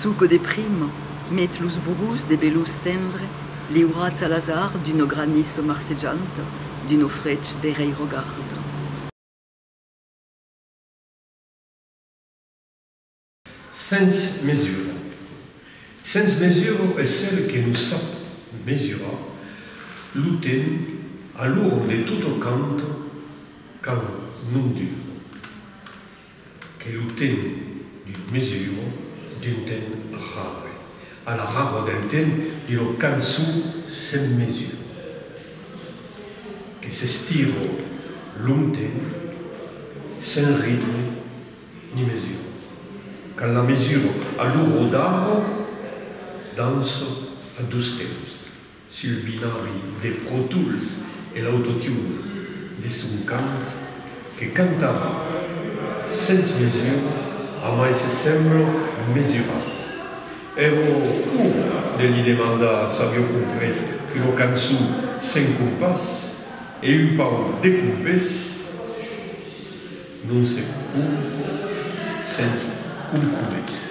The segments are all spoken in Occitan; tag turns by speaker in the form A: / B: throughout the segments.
A: Çò que de prima met los burros de belós tendre, liurats a l'azard d'una granissa marcejanta, d'un ofrech de reirogarda.
B: Sens mesura. Sens mesura es cel que nos sap mesurar lo temps a l'ora de totocant quand non dura. Que lo temps d'une mesure, d'un temps rare. A la raror del temps d'una cançon sens mesure. Que s'estira longtemps sens ritme ni mesure. Quand la mesure a lo rodar dança a dos temps. Sul binari de Pro Tools e l'autotune de son cant que cantarà sens mesura a mai se semblo mesurat. Ero ur de li demandar s'avió comprés qu'una cançon sens compàs e un pauc de compés non se compò sens compromés.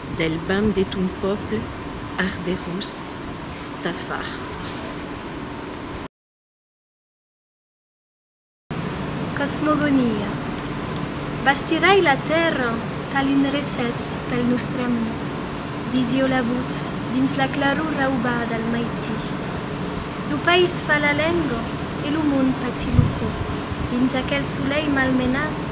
C: Del bam de ton pòble arderós tà far tos.
D: Cosmogonia. Bastirai la tèrra tal un recès pel nòstre amor, disió la votz dins la claror raubada al maití. Lo país fa la lenga e lo mond patí lo cò, dins aquel solelh malmenat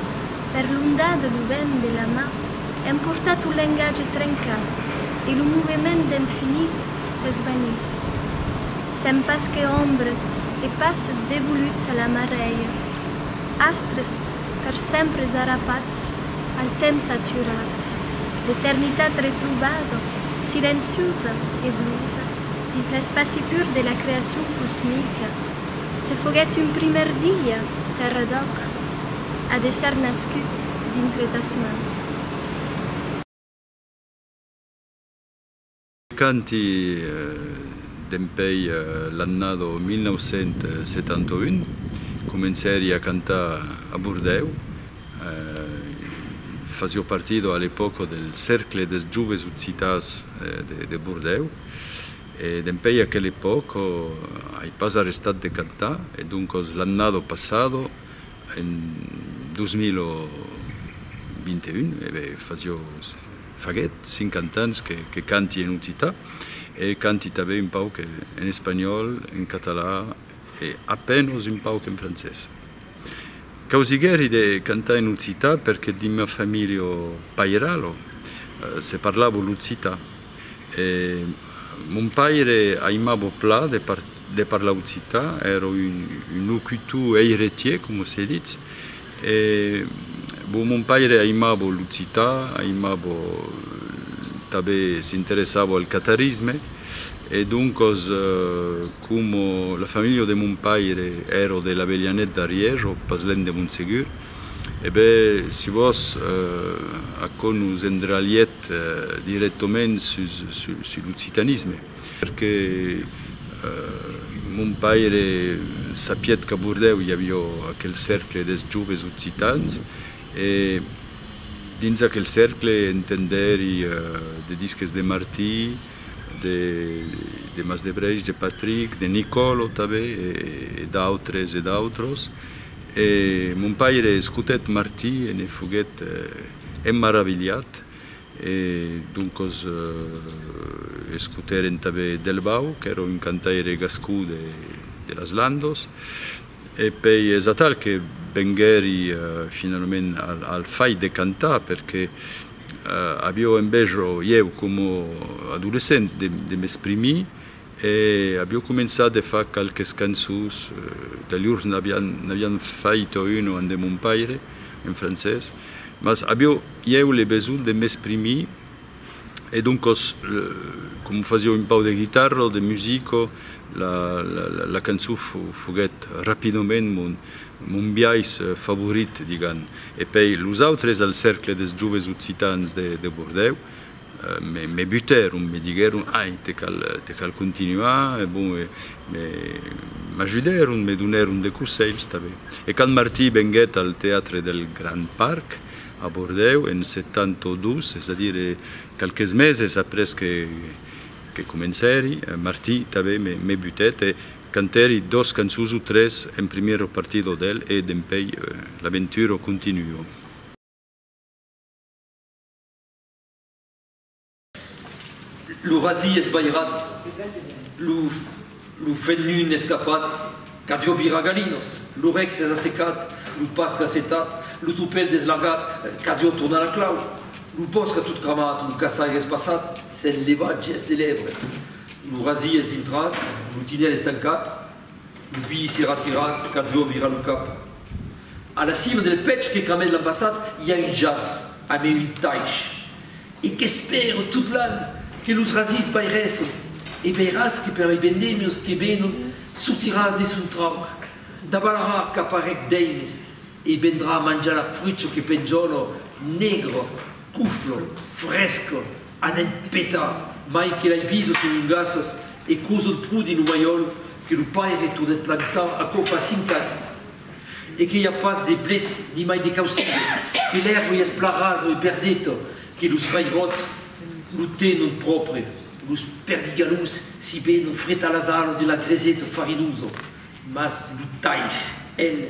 D: per l'onda de lo vent de la mar. Èm portat au lengatge trencat e lo movement d'emfinit s'esvanís. Sèm pas que ombres e passes devoluts a la marèia, astres per sempre zarapats al temps aturat, l'eternitat retrobada, silenciosa e blusa, dins l'espaci pur de la creacion cosmica. Se foguèt un primièr dia, Tèrra d'Òc a d'èsser nascut.
E: Dintre tas mans. Canti dempèi l'annada 1971 comencèri a cantar a Bordèu, fasio partida a l'epòca del Cercle des Joves Occitans de Bordèu e dempèi aquela epòca ai pas arrestat de cantar e doncas l'annada passada En 2021, e be, fa jo, faguèt 50 ans que canti en occitan, e canti tanben un pauc en espanhòl, en catalan e a penos un pauc en francés. Causiguèri de cantar en occitan perque dins ma familha pairala se parlava l'occitan. E mon paire aimabo plan de parlar occitan, ero un locutor eiretier, coma se ditz. E bon, mon paire aimabo l'occitan, aimabo tanben s'interessavo al catarisme e doncos coma la familha de mon paire ero de l'Abelhanèt d'Arièj, o pas lèn de Montsegur, E ben, si vos, aquò nos endralhet dirèctament sus l'occitanisme. Perque mon paire sapiet qu'a Bordèu i avió aquel cercle des joves occitans e dins aquel cercle entendèri de disques de Martí, de Masdebreich, de Patric, de Nicòlo tanben e d'autres e d'autros. E mon paire escotèt Martí e ne foguèt emmaravilhat, e doncos escotèren tanben Delbau, qu'èra un cantaire gascon de las Landos, e pei es atal que venguèri finalament al fait de cantar, perque avió en bèsjo ieu coma adolescent de m'exprimir, E avió començat de far qualques cançons, dalhurs n'avián fait una en de mon paire, en francés, mas avió ieu le besonh de m'exprimir e doncòs com fasió un pauc de guitarra o de musica, la cançon foguèt rapidament mon biais favorit, digam. E pei los autres al Cercle des Joves Occitans de Bordèu, Me butèron, me diguèron, ai, te cal continuar, e bon, m'ajudèron, me donèron de conselhs tanben. E quand Martí venguèt al Teatre del Gran Parc, a Bordèu, en 72, es a dire qualques meses après que comencèri, Martí tanben me butèt, e cantèri dos cançons o tres en primièr o partit o del, e dempèi l'aventura continua.
F: Lo rasi esbairat, lo fenun escapat, qu'avió virar galinas, lo rec s'es assecat, lo pastre assetat, lo tropèl deslagat, qu'avió tornar la clau, lo bòsc a tot cramat, lo caçaire es passat, s'es levat, gest de lèvre. Lo rasi es dintrat, lo tinèl es tancat. Lo biais se ratira, Cadró vira lo cap. A la cima del pech que camèt l'an passat i a un jaç, amé un taish, e qu'espèro tot l'an que los rasís bai rèsle, e veiràs que per lei vendemios que venon sortirà de son trauc, davalarà cap a rec d'èimes e vendrà manjar la frucho que penjòlo, negro, cuflo, fresco. Anèt petar, mai que l'ai vist son ungassas e cosut pro dins lo malhòl que lo paire tornèt plantar aquò fa cinc ans e que i a pas de blets ni mai de causidas, que l'èrvoi es plan rasa e perdeta, que los vairòts lo tenon pròpre, los perdigalhos si ben o freta las alas de la greseta farinosa, mas lo taish, el.